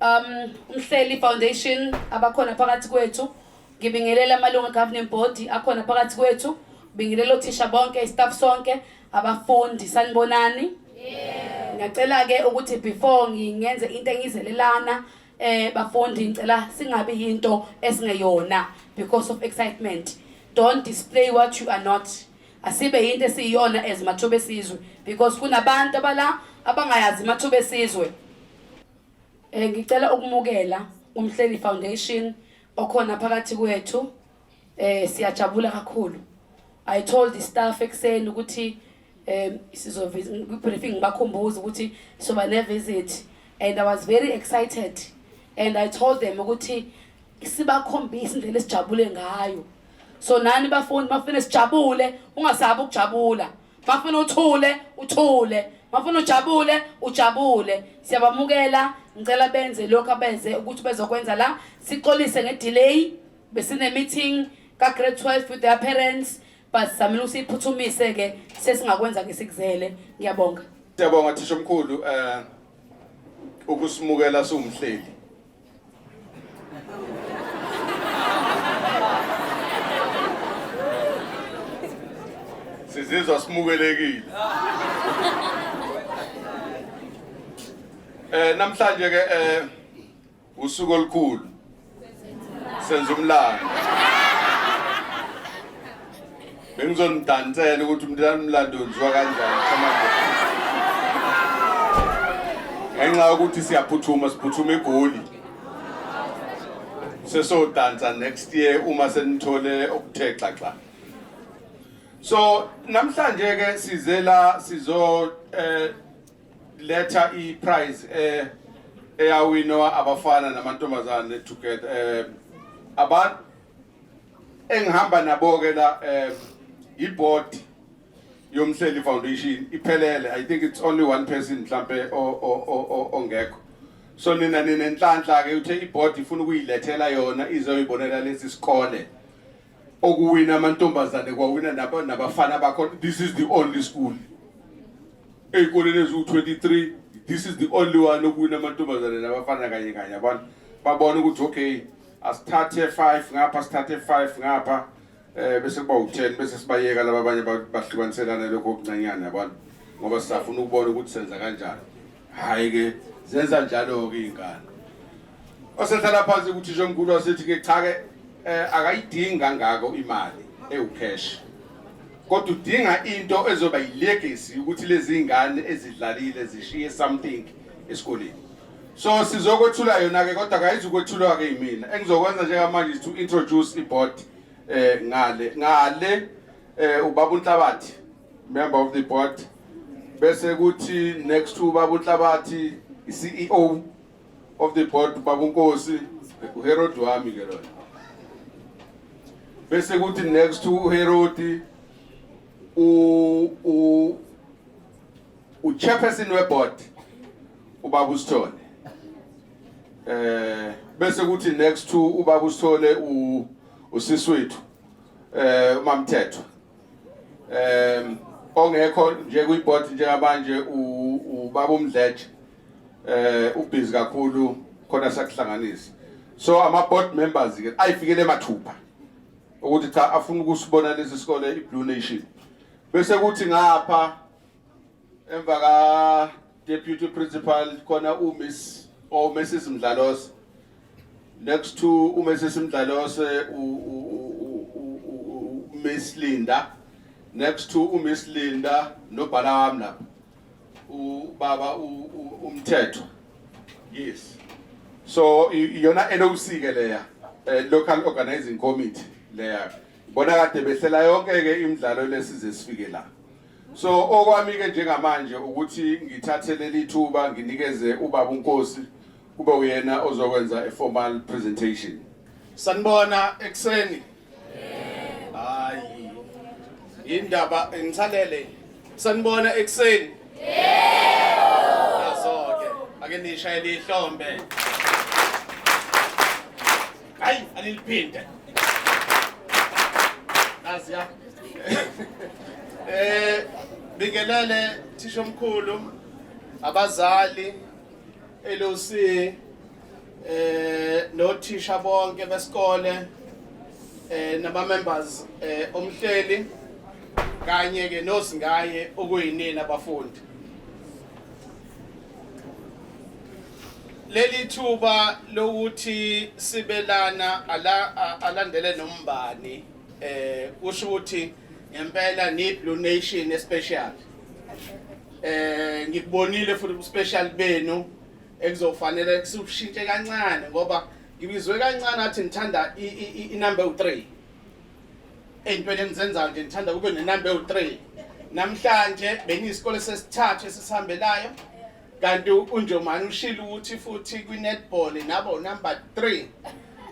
um umhleli foundation abakhona phakathi kwethu ngibingelela amalungu egoverning board akhona phakathi kwethu bingelela othisha bonke istaff sonke abafundi sanibonani ngiyacela ke ukuthi before ngingenze into engizelelana eh bafundi ngicela singabi yinto esingeyona because of excitement don't display what you are not asibe yinto esiyiyona as mathuba esizwe because kunabantu abala abangayazi mathuba esizwe eh ngicela ukumukela umhleli foundation okhona phakathi kwethu eh siyajabula kakhulu i told the staff ekseni ukuthi eh sizovisa briefing bakhumbuza ukuthi soba ne visit and i was very excited and i told them ukuthi sibakhombisa indlela esijabule ngayo so nani bafundi mafuna sijabule ungasabi ukujabula mafuna uthule uthule mafuna ujabule ujabule siyabamukela ngicela benze lokho abenze ukuthi bezokwenza la sixolise ngedelay besine meeting ka grade 12 with their parents but samile usiphuthumise ke sesingakwenza ke sikuzele ngiyabonga siyabonga thisha omkhulu eh ukusimukela siwumhleli sizizwa simukelekile eh namhlanje ke eh usuku olukhulu senza umlando Bengizonidansela ukuthi umntana umlando wenziwa kanjani ngenxa yokuthi siyaphuthuma siphuthuma egoli sesodansa next year uma senithole okuthe xaxa so namhlanje ke size la sizo eh letha i prize eh eyawinwa abafana namantombazane together eh abantu engihamba nabo-ke la um iboard yomhleli foundation iphelele i think it's only one person mhlampe ongekho so nina ninenhlanhla ke uthe iboard ifuna ukuyilethela yona izoyibonela lesi sikole okuwina amantombazane kwawina nabafana bakho this is the only school ey'koleni eziwu-23 this is the only one okuwina amantombazane nabafana kanye kanye abantu babona ukuthi okay asithathe 5 ngapha sithathe 5 ngapha eh bese kuba u10 bese sibayeka laba abanye bahlukaniselana lokho okuncanyana abantu ngoba sisafuna ukubona ukuthi senza kanjani hayi ke zenza njalo ke ingane osehlala phansi ukuthi njengonkulu wasethi ke cha ke eh, akayidingi kangako imali ewucash kodwa udinga into ezoba yilegacy ukuthi lezi ngane ezidlalile zishiye something esikoleni so sizokwethula yona ke kodwa kayizukwethulwa ke yimina engizokwenza njengamanje is to introduce iboard eh ngale ngale eh ubaba uNhlabathi member of the board bese kuthi next to ubaba uNhlabathi iCEO of the board ubaba uNkosi uHerod wami ke lona bese kuthi next to uHerod u u uchairperson weboard ubaba usithole eh bese kuthi next to ubaba usithole u usisi wethu eh umamthetho em ongekho nje kwiboard njengabanje ubaba umdletshe eh ubhizi kakhulu khona sakuhlanganisa so ama board members ke ayifikele mathupha ukuthi cha afuna ukusibona lesi sikole iBlue Nation bese kuthi ngapha emva ka deputy principal khona umiss or mrs mdlalose next to umrs mdlalose umiss linda next to umiss linda nobhala wami lapha ubaba umthetho yes so iyona loc ke leya eh, local organizing committee leya bona kade behlela yonke ke imidlalo lesize sifike la So okwami ke njengamanje ukuthi ngithathe leli thuba nginikeze ubaba uNkosi kube uyena ozokwenza a formal presentation. Sanibona ekseni. Hayi. Indaba engithalele. Sanibona ekseni. Yebo. Azoke. Ake nishayele ihlombe. Hayi aniliphinde. Nazi ya. Eh bingelele thisha omkhulu abazali LOC eh nothisha bonke besikole eh nama members eh omhleli kanye ke nosingaye okuyinina abafundi leli thuba lokuthi sibelana ala, a- alandele nombani eh kusho ukuthi ngempela ni Blue Nation especial eh ngikubonile futhi ubuspecial benu ekuzofanele sikushintshe kancane ngoba ngibizwe kancane athi ngithanda i- i- i- inumber 3 ey'ntweni engizenzayo nje ngithanda kube nenumber ewu-three namhlanje beniyisikole sesithathu esisihambelayo kanti unjomani ushilo ukuthi futhi kwinetball naba unumber 3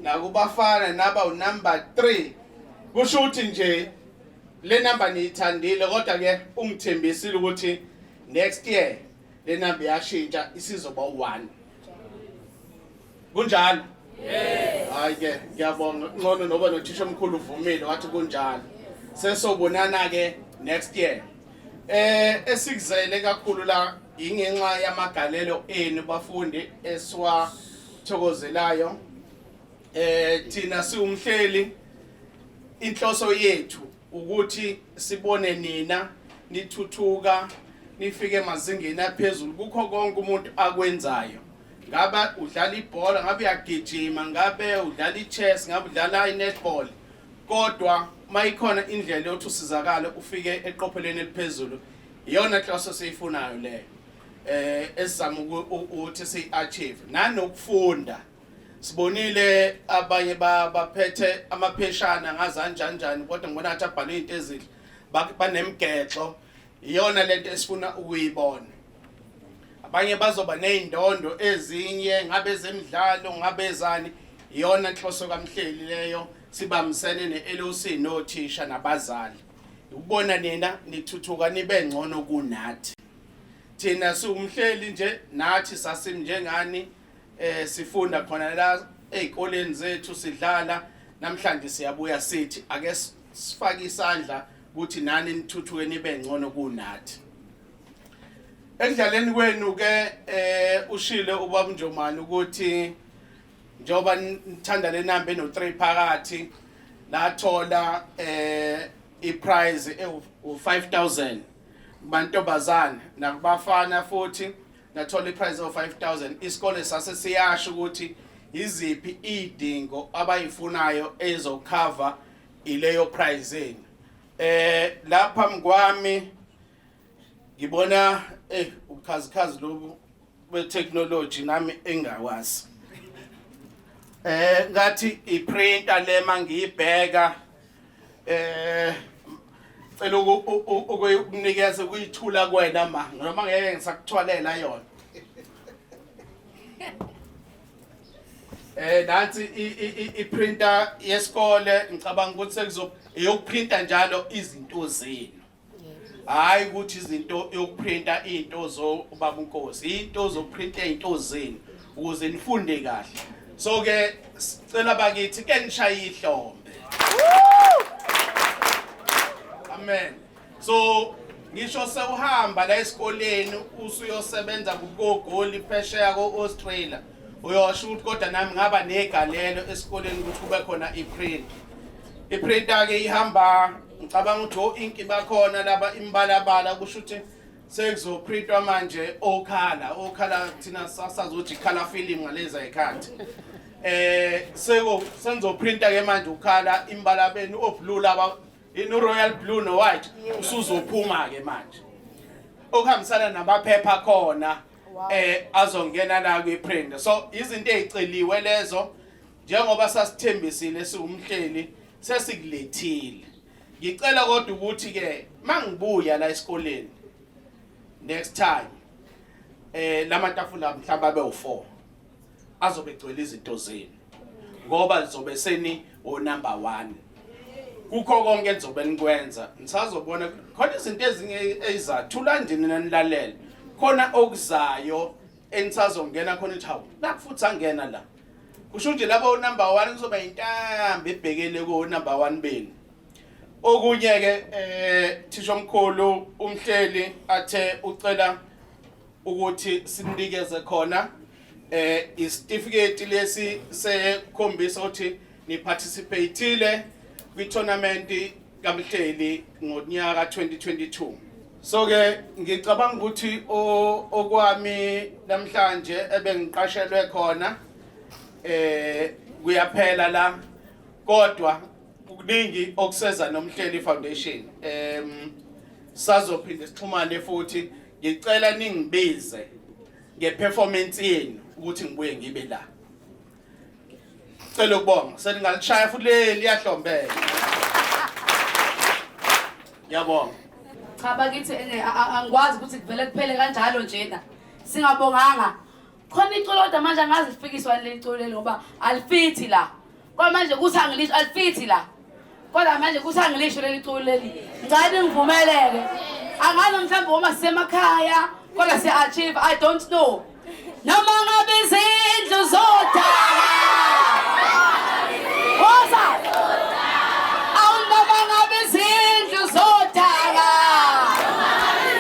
nakubafana naba unumber 3 kusho ukuthi nje le number niyithandile kodwa ke ungithembisile ukuthi next year le number yashintsha isizoba u1 kunjalo hayi ke ngiyabonga ncono noba nothisha omkhulu uvumile wathi kunjalo sesobonana ke next year eh esikuzele kakhulu la ingenxa yamagalelo enu bafundi esiwathokozelayo eh thina siwumhleli inhloso yethu ukuthi sibone nina nithuthuka nifike emazingeni aphezulu kukho konke umuntu akwenzayo ngabe udlala ibhola ngabe uyagijima ngabe udlala i-chess ngabe udlala i-netball kodwa mayikhona indlela yokuthi usizakale ufike eqophelweni eliphezulu iyona nhloso siyifunayo leyo eh esizama ukuthi siyi-achieve nanokufunda sibonile abanye baphethe amapheshana ngazanjanjani kodwa ngibona ngathi abhalwe into ezihle banemgexo iyona lento esifuna ukuyibona abanye bazoba nezindondo ezinye ngabe zemidlalo ngabe zani iyona inhloso kamhleli leyo sibambisene neLOC nothisha nabazali ukubona nina nithuthuka nibe ngcono kunathi thina siwumhleli nje nathi sasimnjengani eh sifunda khona la ezikoleni zethu sidlala namhlanje siyabuya sithi ake sifake isandla ukuthi nani nithuthuke nibe ngcono kunathi ekudlaleni kwenu ke eh ushile ubaba Njomani ukuthi njoba nithanda le number eno 3 phakathi lathola eh iprize ewu 5000 kubantu bazana nakubafana futhi nathola iprize of 5000 isikole sase siyasho ukuthi iziphi idingo abayifunayo ezokhava ileyo prize yenu eh lapha mkwami ngibona eh ubukhazikhazi lobu betechnology nami engawazi eh ngathi iprinter lema ngiyibheka eh cela ukunikeza kuyithula kwena ma noma ngeke ngisakuthwalela yona eh nansi i-printer yesikole ngicabanga ukuthi sekuzoprinta njalo izinto zenu hayi ukuthi izinto yokuprinta into zo ubaba uNkosi into zokuprinta into zenu ukuze nifunde kahle so ke sicela bakithi ke nishaye ihlombe amen so ngisho sewuhamba la esikoleni usuyosebenza kugogoli phesheya ko-australia uyosho ukuthi kodwa nami ngaba negalelo esikoleni ukuthi kube khona iprint iprinta-ke ihamba Ngicabanga ukuthi o inki bakhona laba imbalabala kusho ukuthi sekuzoprintwa manje okhala okhala thina sasazothi khala film ngaleza ikhathi eh seko senzoprinta ke manje ukhala imbala benu oblue laba in royal blue no white usuzophuma ke manje okuhambisana namaphepha khona eh azongena la kwi print so izinto eziceliwe lezo njengoba sasithembisile siwumhleli sesikulethile ngicela kodwa ukuthi ke mangibuya la esikoleni next time eh lamatafula mhlawumbe abe u4 azobe egcwele izinto zenu ngoba lizobe seni o number 1 kukho konke engizobe nikwenza nisazobona khona izinto ezinye ezizathula ndini nanilalela khona okuzayo enisazongena khona ithi hawu nakho futhi angena la kusho nje labo number 1 kuzoba intambo ebhekele ko number 1 benu okunye ke eh thisha omkhulu umhleli athe ucela ukuthi sinikeze khona eh isitifiketi lesi sekhombisa ukuthi ni participateile kwi tournament kaMhleli ngonyaka 2022 so ke ngicabanga ukuthi okwami namhlanje ebengiqashelwe khona eh kuyaphela la kodwa kuningi okuseza nomhleli foundation em sazophinde sixhumane futhi ngicela ningibize ngeperformance yenu ukuthi ngibuye ngibe la Cela ukubonga seningalishaya futhi le liyahlombela. Ngiyabonga. Cha bakithi ene a- a- angikwazi ukuthi kuvele kuphele kanjalo njena. Singabonganga. Khona iculo kodwa manje angazi lifikiswa leli culo leli ngoba alifithi la. Kwamanje kuthi angilisho alifithi la. kodwa manje kusangilisho leli culo leli ngicela ningivumeleke angazi mhlawumbe uma sisemakhaya kodwa si-achieve i don't know noma ngabe izindlu zodala woza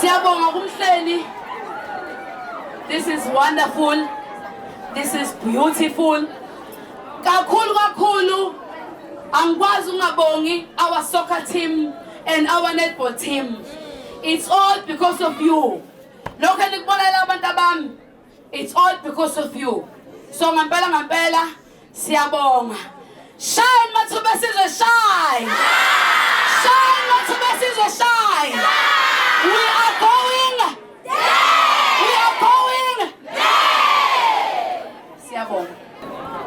Siyabonga kumhleli. This is wonderful. This is beautiful. Kakhulu kakhulu angikwazi ungabongi our soccer team and our netball team. It's all because of you. lokho enikubonalela abantu abami it's all because of you so ngampela ngampela siyabonga shine mathuba sizwe shine shine mathuba sizwe shine we are going we are going siyabonga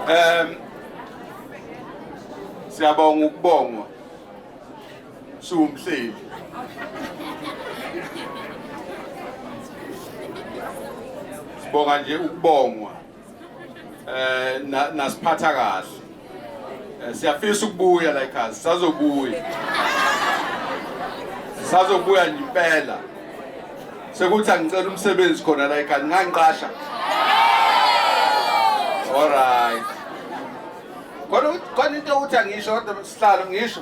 um siyabonga ukubongwa siwumhleli sibonga nje ukubongwa eh nasiphatha kahle eh, siyafisa ukubuya la ekhaya sazobuya sazobuya nje impela sekuthi angicela umsebenzi khona la ekhaya ngangiqasha all right kodwa kodwa into ukuthi angisho kodwa sihlalo ngisho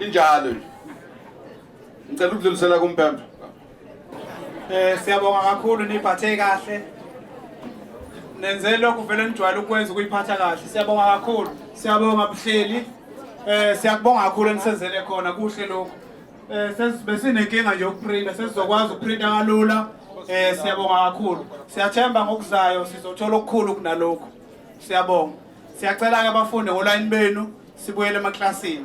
injalo nje ngicela ukudlulisela kumpempe eh siyabonga kakhulu niphathe kahle nenze lokhu vele nijwayele ukwenza ukuyiphatha kahle siyabonga kakhulu siyabonga buhleli eh siyakubonga kakhulu enisenzele khona kuhle lokhu eh besinenkinga nje ukuprinta sesizokwazi ukuprinta kalula eh siyabonga kakhulu siyathemba ngokuzayo sizothola okukhulu kunalokho siyabonga Siyacela-ke abafundi ngolayini benu sibuyele emaklasini.